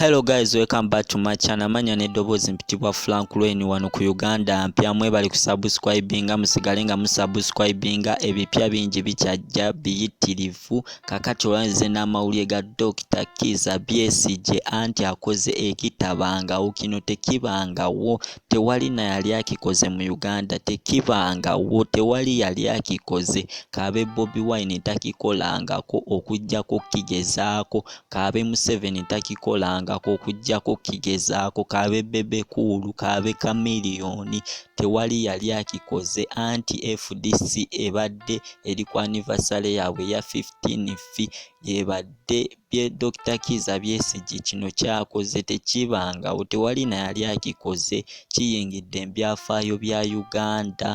hello guys welcome back to my channel manya n'eddoboozi mpitibwa frank lwen wano ku uganda mpya mwebali kusubscribinga musigale nga musubscribinga ebipya bingi bikyajja biyitirivu kakati olwanze n'amawulire ga dokita kiza bsg anti akoze ekitabangawo kino tekibangawo tewali na yali akikoze mu uganda tekibangawo tewali yali akikoze kaabe bobi wine takikolangako okujjako kigezaako kaabe museveni takikolangako okujjako kigezaako kaabe bebekuulu kaabe kamiliyoni tewali yali akikoze anti fdc ebadde eri ku anivasale yaabwe eya 15 fi ebadde bye Dokita Kiiza Besigye kino ky'akoze tekibangawo, tewali na yali akikoze, kiyingidde mu byafaayo bya Uganda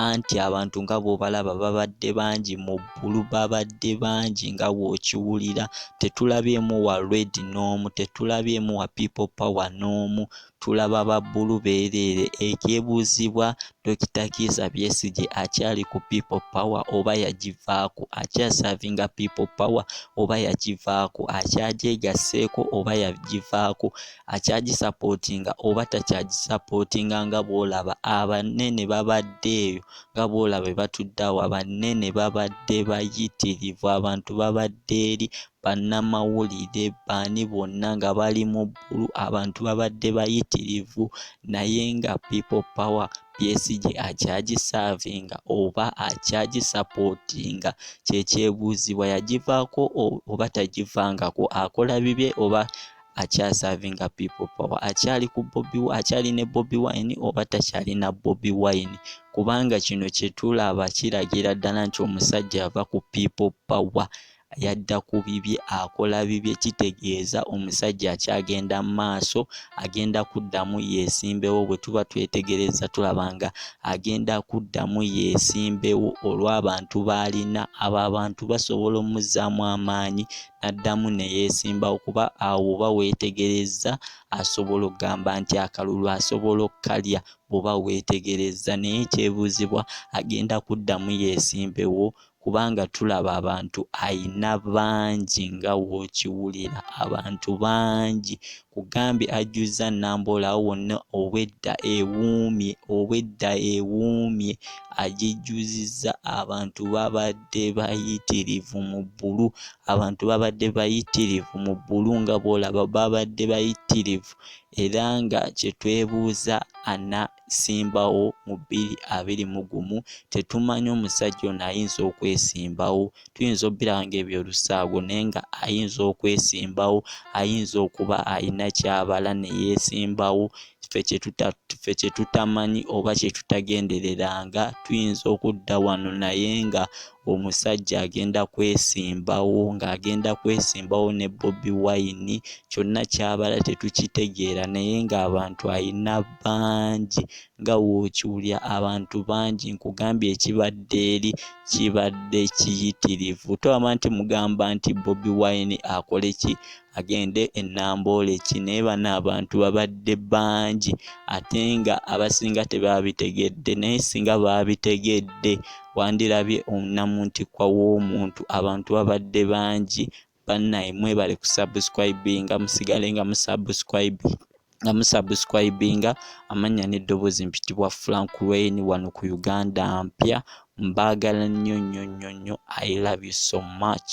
anti abantu nga bw'obalaba babadde bangi mu ggulu, babadde bangi nga bw'okiwulira, tetulabyemu wa Red n'omu, tetulabyemu wa People Power n'omu. tulaba ba bbulu beereere ekyebuuzibwa Dokita Kiiza Besigye akyali ku People Power oba yagivaako akyasavinga People Power oba yagivaako akyagyegasseeko oba yagivaako akyagisapootinga oba takyagisapootinga nga bw'olaba abanene babadde eyo nga bw'olaba batudde awo abanene babadde bayitirivu abantu babadde eri bannamawulire baani bonna nga bali mu waggulu abantu babadde bayitirivu naye nga people power psg akyagisaavinga oba akyagisapootinga kyekyebuuzibwa yagivaako oba tagivangako akola bibye oba akyasaavinga people power akyali ku bobi akyali ne bobi wine oba takyali na bobi wine kubanga kino kyetulaba kiragira ddala nti omusajja ava ku people power yadda ku bibye akola bibye kitegeeza omusajja akyagenda mu maaso agenda kuddamu yeesimbewo bwe tuba twetegereza tulaba nga agenda kuddamu yeesimbewo olw'abantu b'alina abo abantu basobola omuzzaamu amaanyi n'addamu ne yeesimbawo kuba awo oba weetegerezza asobola okugamba nti akalulu asobola okukalya bw'oba weetegerezza naye ekyebuuzibwa agenda kuddamu yeesimbewo kubanga tulaba abantu ayina bangi nga wokiwulira abantu bangi kugambye ajjuzza nambola awo wonna obwedda ewuumye obwedda ewuumye agijjuzizza abantu babadde bayitirivu mu bbulu abantu babadde bayitirivu mu bbulu nga boolaba babadde bayitirivu era nga kyetwebuuza ana okwesimbawo mu bbiri abiri mu gumu tetumanyi omusajja ono ayinza okwesimbawo tuyinza obbirawo ngaebyolusaago naye nga ayinza okwesimbawo ayinza okuba alina kyabala neyesimbawo ffe kyetutamanyi oba kyetutagendereranga tuyinza okudda wano naye nga omusajja agenda kwesimbawo ng'agenda kwesimbawo ne Bobi Wine kyonna ky'abala tetukitegeera naye ng'abantu alina bangi nga w'okiwulira abantu bangi nkugambye ekibadde eri kibadde kiyitirivu togamba nti mugamba nti Bobi Wine akole ki agende e Namboole ki naye bano abantu babadde bangi ate nga abasinga tebabitegedde naye singa baabitegedde wandirabye omunamuntikwa w'omuntu abantu babadde bangi bannaye mwebale ku subscribinga musigale nga musubscribe nga musubscribinga amannya n'eddoboozi mpitibwa frank wayne wano ku uganda mpya mbaagala nnyo nnyo nnyo nnyo i love you so much